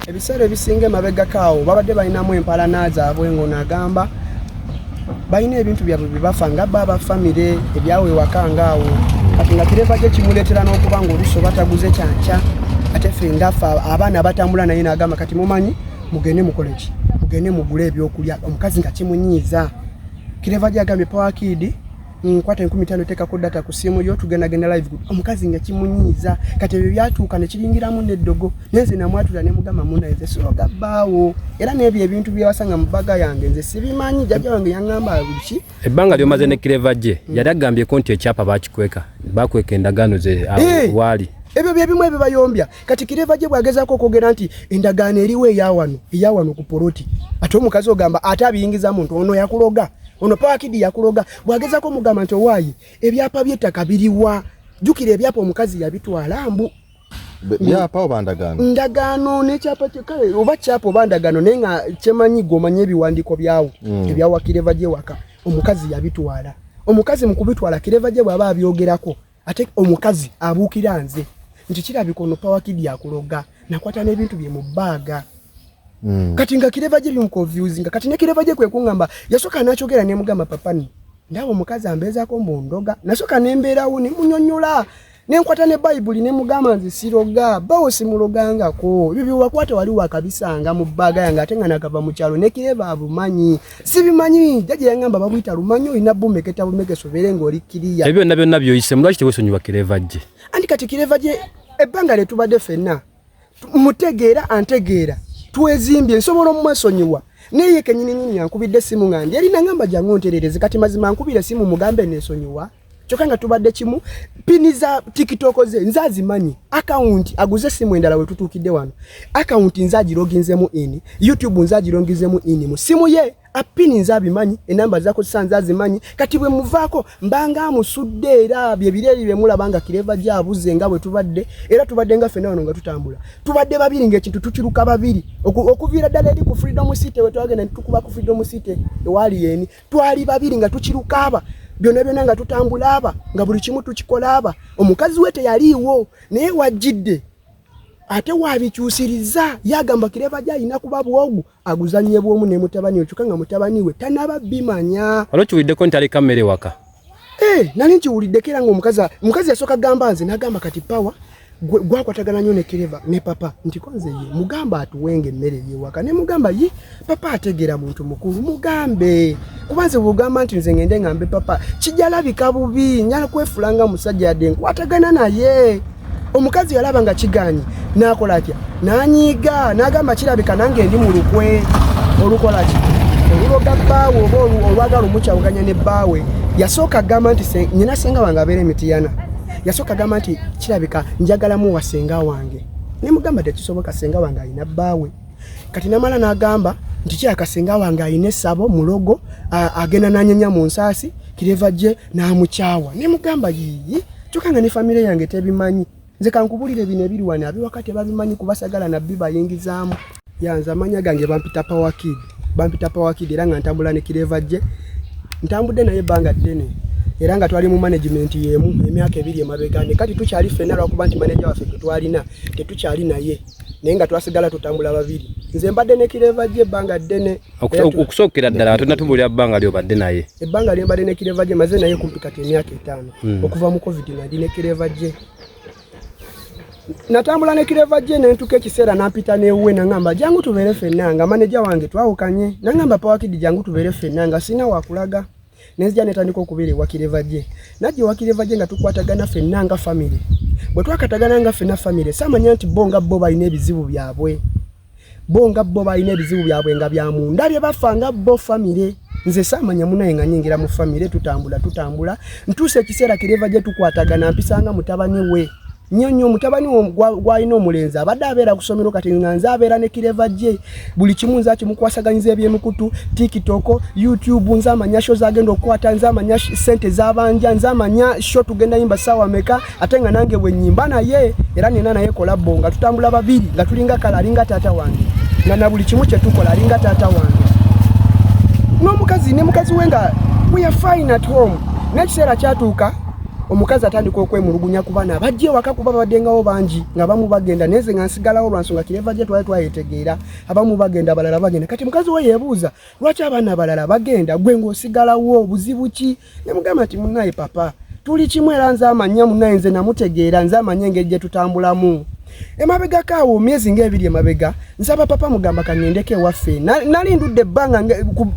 ebiseera ebisinga emabegako awo babadde balinamu empalana zaabwe ng'ono agamba balina ebintu byabwe byebafa nga ba abafamire ebyawo ewaka nga awo kati nga kireva kye kimuleetera n'okuba ng'oluusi oba taguze kyankya ate fe ngafa abaana abatambula naye naagamba kati mumanyi mugende mukole ki mugende mugule ebyokulya omukazi nga kimunyiiza kireva gyagambye pawakidi nkwata enkumi tano tekako data ku simu yo tugenda genda live group omukazi nga kimunyiiza kati ebyo byatuuka ne kiringiramu n'eddogo nenze namwatula ne mugamba muna nze siroga bbaawo era n'ebyo ebintu byewasanga mu bbaga yange nze sibimanyi jjajja wange yangamba buki ebbanga lyomaze ne kireva gye mm. yali agambyeko nti ekyapa bakikweka bakweka endagaano ze ah, eh! waali ebyo bye bimu ebibayombya kati kireva gye bwagezaako okwogera nti endagaano eriwo eyawano eyawano ku poloti ate omukazi ogamba ate abiyingiza muntu ono yakuloga ono pawakidi yakuloga bwagezaako omugamba nti owaayi ebyapa by'ettaka biriwa jjukira ebyapa omukazi yabitwala mbu byapa oba ndagaano ndagaano nekyapa kale oba kyapa oba ndagaano naye nga kyemanyi gwomanyi ebiwandiiko byawo mm. ebyawakireva gyewaka omukazi yabitwala omukazi mukubitwala kireva gye bwaba abyogerako ate omukazi abuukira nze nti kirabika ono pawakidi akuloga nakwata n'ebintu bye mu bbaaga hmm. kati nga kireva gye bimukonfuse nga kati ne kireva gye kwe kuŋŋamba yasooka n'akyogera ne mugamba papani ndaba omukazi ambeezaako mbu ndoga nasooka ne mbeerawo ne munyonyola ne nkwata ne bayibuli ne mugamba nze siroga bawo simulogangako ebyo bye wakwata wali wakabisanga mu bbaaga yange ate nga nakava mu kyalo ne kireva abumanyi sibimanyi jaja yangamba babuyita lumanyi olina bumeketa bumekesa obeere ng'oli kiriya ebyo byonna byonna byoyisemu lwaki tewesonyiwa kireva gye anti kati kireva gye ebbanga lye tubadde fenna mutegeera antegeera twezimbye nsobola omumwesonyiwa naye kenyini nyini yankubidde essimu nga ndi yali nangamba jangu nterereze kati mazima nkubira essimu mugambe nesonyiwa kyokka nga tubadde kimu pini za tiktok ze nze azimanyi akawunti aguze essimu endala we tutuukidde wano akawunti nze agiroginzemu ini youtube nze agiroginzemu ini mu simu ye apini nze abimanyi enamba zakozesa nze azimanyi kati bwe muvaako mbanga amusudde era byebireeri bye mulaba nga kireva gye abuze nga bwe tubadde era tubadde nga ffena wano nga tutambula tubadde babiri ng'ekintu tukiruka babiri okuviira ddala eri ku freedom city we twagenda ne tukuba ku freedom city ewaali yeeni twali babiri nga tukiruka aba byona byona nga tutambula aba nga buli kimu tukikola aba omukazi we teyaliiwo naye wajjidde ate wabikyusiriza yagamba kireva gyalina kuba bwogu aguzanye bwomu ne mutabani okyuka nga mutabani we tanaba bimanya olwokiwuliddeko nti aleka mmere waka Hey, eh, nali nkiwuliddeko era ngaomukazi omukazi yasooka gamba nze nagamba kati pawa gwakwatagana nyo nekereva ne papa nti konze ye mugamba atuwenga emmere yewaka ne mugamba ye papa ategera muntu mukulu mugambe kuba nze bwogamba nti nze ngende ngambe papa kijalabika bubi nyala kwefulanga musajja yadde nkwatagana naye omukazi yalaba nga kiganyi nakola atya nanyiiga nagamba kirabika nange ndi mu lukwe olukola ki oluloga bbaawe oba olwagala omukyawuganya ne bbaawe yasooka gamba nti nyina senga wange abeera emitiyana yasooka gamba nti kirabika njagalamu wa senga wange nemugamba tekisoboka senga wange alina bbaawe kati namala nagamba nti kyaka senga wange alina esabo mulogo agenda nanyenya mu nsaasi kireva gye n'amukyawa ne mugamba yiyi kyokka nga ne famire yange tebimanyi nze kankubulire bino ebiri wano abiwaka tebabimanyi kubasagala nabbi bayingizaamu yanze amanya gange bampita pawakid bampita pawakid era nga ntambula ne kireva gye ntambudde naye ebbanga ddene era nga twali mu management yemu emyaka ebiri emabega ne kati tukyali ffena lwakuba nti manaja waffe tetwalina tetukyali naye naye nga twasigala tutambula babiri nze mbadde ne kireva gye ebbanga ddene okusookera ddala tonna tubuulira bbanga lyobadde naye ebbanga lyembadde ne kireva gye maze naye kumpi kati emyaka etaano hmm. okuva mu covid nadi ne kireva gye natambula ne kireva gye nentuka ekiseera nampita newuwe nangamba jangu tubeere fenna nga maneja wange twawukanye nangamba pawakidi jangu tubeere fenna nga sirina wakulaga nenzija netandika okubeera ewa kireva gye najja ewa kireva gye nga tukwatagana fenna nga famiry bwe twakatagana nga fenna famiry samanya nti bo nga bo balina ebizibu byabwe bo nga bo balina ebizibu byabwe nga bya munda bye bafa nga bo famire nze saamanya munaye nga nyingira mu famire tutambula tutambula ntuusa ekiseera kireva gye tukwatagana mpisanga mutabani we nyo nyo mutabani gwalina omulenzi abadde abeera kusomero kati nga nze abeera ne kireva gye buli kimu nze akimukwasaganyiza ebyemikutu tiktok youtube nze amanya sho zagenda okukwata nze amanya sente zabanja nze amanya sho tugenda yimba saawa meka ate nga nange bwenyimba naye era nina naye kolabo nga tutambula babiri nga tulinga kala alinga taata wange nga na buli kimu kyetukola alinga taata wange n'omukazi ne mukazi we nga we are fine at home n'ekiseera kyatuuka omukazi atandika okwemulugunya ku baana abajja ewaka kuba babaddengawo bangi nga bamu bagenda neze nga nsigalawo lwansonga kireva gye twali twayetegeera abamu bagenda abalala bagenda kati mukazi we yebuuza lwaki abaana abalala bagenda gwe ng'osigalawo obuzibu ki ne mugamba nti munaye papa tuli kimu era nze amanya munaye nze namutegeera nze amanya engeri gye tutambulamu emabegako awo myezi ngaebiri emabega nsaba papa mugamba kaŋendeko ewaffe nali ndudde ebbanga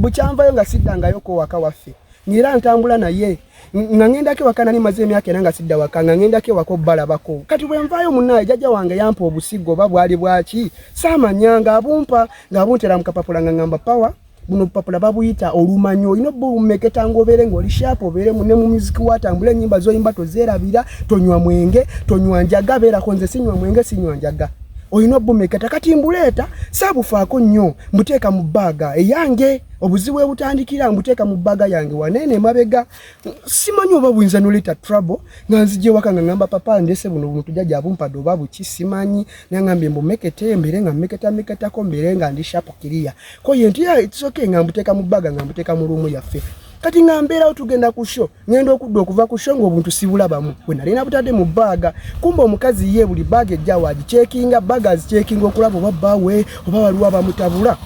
bukyanvayo nga siddangayo kowaka waffe ngaera ntambula naye na nga ngendako ewaka nali maze emyaka era nga sidda waka nga ngendako ewaka obalabako kati bwenvaayo munaaye jajja wange yampa obusigo oba bwali bwaki saamanya nga abumpa nga abuntera mu kapapula nga ngamba pawa buno obupapula babuyita olumanyi olina obba obumeketa ngaobeere ngaoli shaapu obeere mune mu muziki watambula enyimba zoyimba tozeerabira tonywa mwenge tonywa njaga beerako nze sinywa mwenge sinywa njaga olina obumeketa kati mbuleeta saabufaako nnyo mbuteeka mu baaga eyange obuzibu ebutandikira mbuteeka mu bbaga yange waneene emabega simanyi oba buyinza noleeta trouble nga nzija ewaka nga ngamba papa ndese buno buntu jaja abumpadde oba buki simanyi nangambye mbumekete mbeere nga mmeketameketako mbeere nga ndi shapu kiriya koye nti ah, soke nga mbuteeka mu bbaga nga mbuteeka mu luumu yaffe kati nga mbeerawo tugenda ku sho ngenda okudda okuva ku sho ngaobuntu sibulabamu bwe nali nabutadde mu baaga kumba omukazi ye buli baaga ejjawo agikyekinga baaga azikyekinga okulaba oba bbaawe oba waliwo abamutabula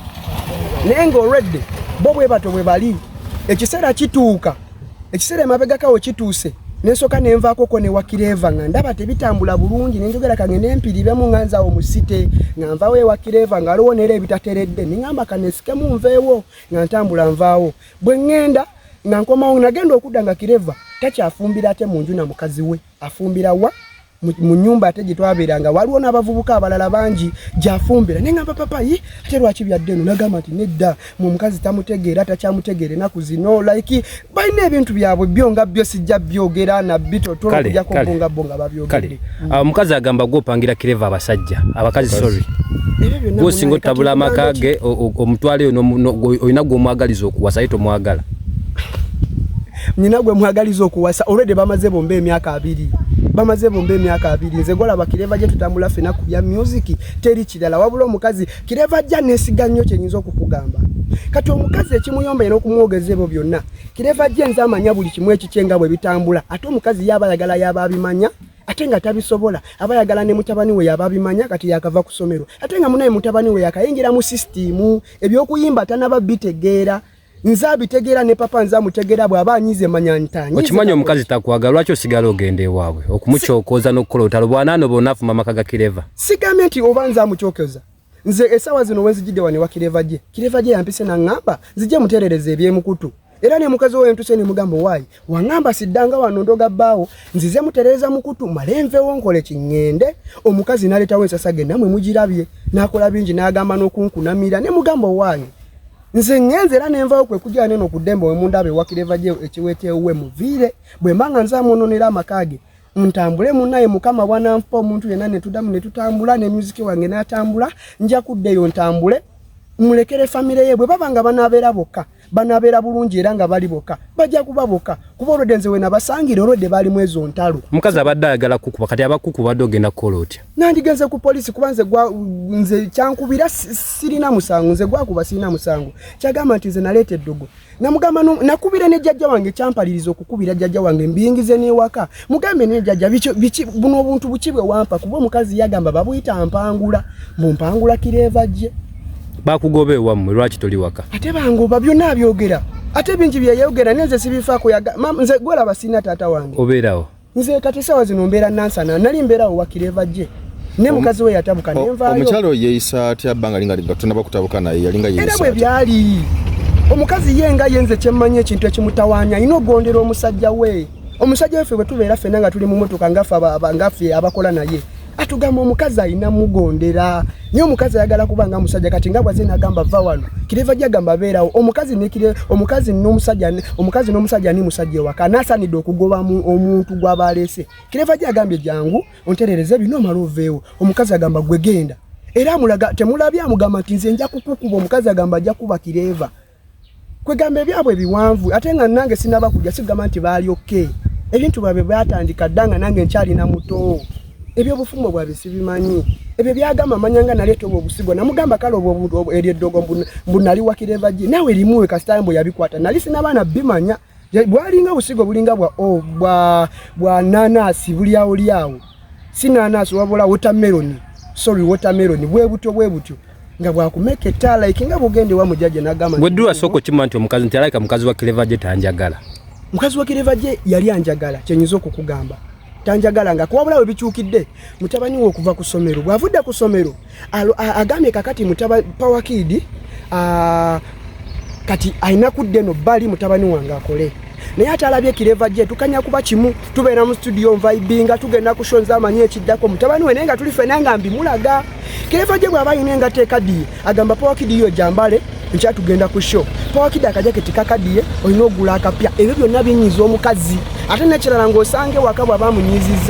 naye ngaolwedde bo bwe bato bwe bali ekiseera kituuka ekiseera emabegakawo kituuse nensoka nenvakoko newakireva nga ndaba tebitambula bulungi nenjogera kange nempiribemu nga nzawo musite nga nvawo ewakireva nga aliwo nera ebitateredde ningamba kanesikemu nveewo nga ntambula nvaawo bwe ŋŋenda nga nkomawo nagenda okudda nga kireva takyafumbira ate mu nju na mukazi we afumbira wa mu nyumba ate gyetwabeeranga waliwo n'abavubuka abalala bangi gyafumbira naye ngamba papa ye ate lwaki byadde eno nagamba nti nedda mu omukazi tamutegeera takyamutegeera enaku zino like balina ebintu byabwe byo nga byo sijja byogera nabbi totolokujako bonga bonga babyogere mm. ah, omukazi agamba gwe opangira kireva abasajja abakazi sorry gwe osinga otabula amaka ge omutwaleyo olina gwe omwagaliza okuwasa ye tomwagala nyina gwe mwagaliza okuwasa olwedde bamaze bomba emyaka abiri bamaze bomba emyaka abiri nze golaba kireva gye tutambula fena ku bya musiki teri kirala wabula omukazi kireva ajja nesiga nnyo kyenyinza okukugamba kati omukazi ekimuyomba era okumwogeza ebyo byonna kireva gye nze amanya buli kimu ekikyenga bwe bitambula ate omukazi yaaba ayagala yaaba abimanya ate nga tabisobola aba yagala ne mutabani we yaba bimanya kati yakava kusomero ate nga munaye mutabani we yakayingira mu system ebyokuyimba tanaba bitegeera nze abitegeera ne papa nze amutegeera bw'aba anyize manya ntanyi okimanyi omukazi takwagala lwaki osigala ogenda ewaabwe okumukyokooza n'okukola otalo bwanaano bonafu mama kaga kireva sigambye nti oba nze amukyokoza nze esaawa zino wenzijidde wano ewa kireva gye kireva gye yampise naŋŋamba nzije muteerereza ebyemukutu era ne mukazi oyo ntuse ne mugamba waayi wangamba siddanga wano ndoga bbaawo nzize mutereeza mukutu male nvewo nkole kiŋŋende omukazi naleetawo ensasa ge namwe mugirabye n'akola bingi n'agamba n'okunkunamira ne mugamba waayi nze ŋŋenze era ne nvawo kwe kujja neno ku ddembe we mundaba ewakira eva gye ekiweteewo we muviire bwe mba nga nzamwononera amaka ge ntambule munaye mukama bwananfa omuntu yena netudamu netutambula ne music wange natambula nja kuddeyo ntambule mulekere famire ye bwe baba nga banabeera bokka banabeera bulungi era nga bali bokka bajja kuba bokka kuba olwedde nze wenabasangira olwedde baalimu ezo ntalo omukazi abadde ayagala kukuba kati abakuku badde ogenda kukola otya nandigenze ku polisi kuba nze nze kyankubira sirina musango nze gwakuba sirina musango kyagamba nti nze naleeta eddogo namugamba nakubira ne jajja wange kyampaliriza okukubira jajja wange mbiyingize newaka mugambe ne jajja biki buno obuntu buki bwe wampa kuba omukazi yagamba babuyita mpangula mbu mpangula kireeva gye bakugoba ewammwe lwaki toli waka ate bangoba byonna abyogera ate bingi byeyayogera nenze sibifaako nze gwolaba sirina taata wange obeerawo nze kati sawa zino mbeera nansana nali mbeerawo wakira eva gye ne mukazi we yatabuka nenvayo omukyalo yeeyisa atya bbanga linga liga tunaba kutabuka naye yalinga yeeyisa era bwe byali omukazi ye nga yenze kyemmanyi ekintu ekimutawaanya alina okugondera omusajja we omusajja weffe bwe tubeera fenna nga tuli mu motoka ngaffe abakola naye atugamba omukazi alina mugondera Nyo mukazi ayagala kuba nga musajja kati nga bwaze nagamba va wano. Kireva gya gamba beerawo. Omukazi ne kire omukazi no musajja ne omukazi no musajja ni musajja ewa kana sani do kugoba mu omuntu gwa balese. Kireva gya gambye jangu onterereze bino malovewo. Omukazi agamba gwe genda. Era mulaga temulabya mugamba tinze nja kukukuba omukazi agamba ajja kuba kireva. kwegamba ebyabwe ebiwanvu ate nga nange sinaba kujja sigamba nti baali oke ebintu bwabwe byatandika dda nga nange nkyalina muto ebyobufumbo bwabwe sibimanyi ebyo byagamba manya nga naleeta obwo obusigo namugamba kale eryo eddogo mbunali wakireva gi naawe erimuwe kasitayo mbu yabikwata nali sinabaana bimanya bwalinga obusigo bulinga bwa oh, bwa nanasi bulyawo lyawo si nanasi wabula wotameroni sorry wotameroni bwebutyo bwebutyo nga bwakumeka ettaala iki nga bugende wa mujaja nagamba gwe dula soko kima nti omukazi nti alaika mukazi wa kileva je tanjagala mukazi wa kileva je yali anjagala kyenyizo kukugamba tanjagala nga kuwabula we bichukidde mutabani wo okuva ku somero bwavudde ku somero agambye kakati mutaba power kid uh, kati alina kudda eno bali mutabani wange akole naye ate alabye kireva gye tukanya kuba kimu tubeera mu studio nvaibinga tugenda kushonza amanyi ekiddako mutabani we naye nga tuli fena nga mbimulaga kireva gye bw'aba alina engato ekadiye agamba pawakidiyo jambale nkya tugenda ku sho pawakidi akajaketi kakadiye olina ogula akapya ebyo byonna binyinyiza omukazi ate nekirala ng'osanga ewaka bw'aba amunyiizizza